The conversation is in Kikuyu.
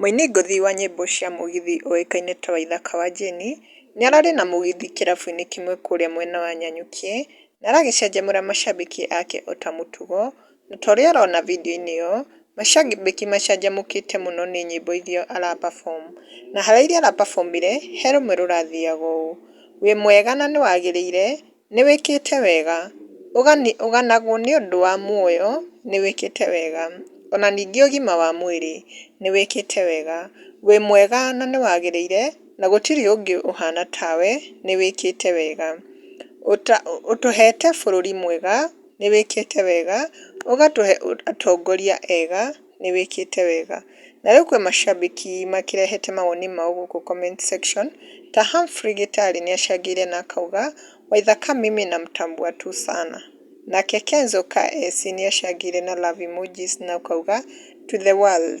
Mũini ngũthi wa nyĩmbo cia mũgithi ũĩkaine ta Waithaka wa Jane nĩararĩ na mũgithi kĩrabu-inĩ kĩmwe kũrĩa mwena wa Nanyuki na aragĩcanjamũra macambĩki ake ota mũtugo, na torĩa ũrona video-inĩ ĩyo macambĩki macanjamũkĩte mũno nĩ nyĩmbo iria ara perform na harĩ iria ara perform ire he rũmwe rũrathiaga ũũ, wĩ mwega na nĩwagĩrĩire. Nĩwĩkĩte wega. Ũganagwo nĩ ũndũ wa muoyo, nĩwĩkĩte wega. O na ningĩ ũgima wa mwĩrĩ, nĩwĩkĩte wega. Wĩ mwega na nĩwagĩrĩire, na gũtirĩ ũngĩ ũhana tawe, nĩwĩkĩte wega. Ũtũhete bũrũri mwega, nĩwĩkĩte wega, ũgatũhe atongoria ega. nĩwĩkĩte wega. Na rĩu kwĩ macambĩki makĩrehete mawoni mao gũkũ comment section, ta Humphrey Gĩtarĩ nĩacangĩire na akauga, Waithaka mimi namtambua tu sana. Nake Kenzo KS nĩacangĩire na love emojis na ũkauga, To the world.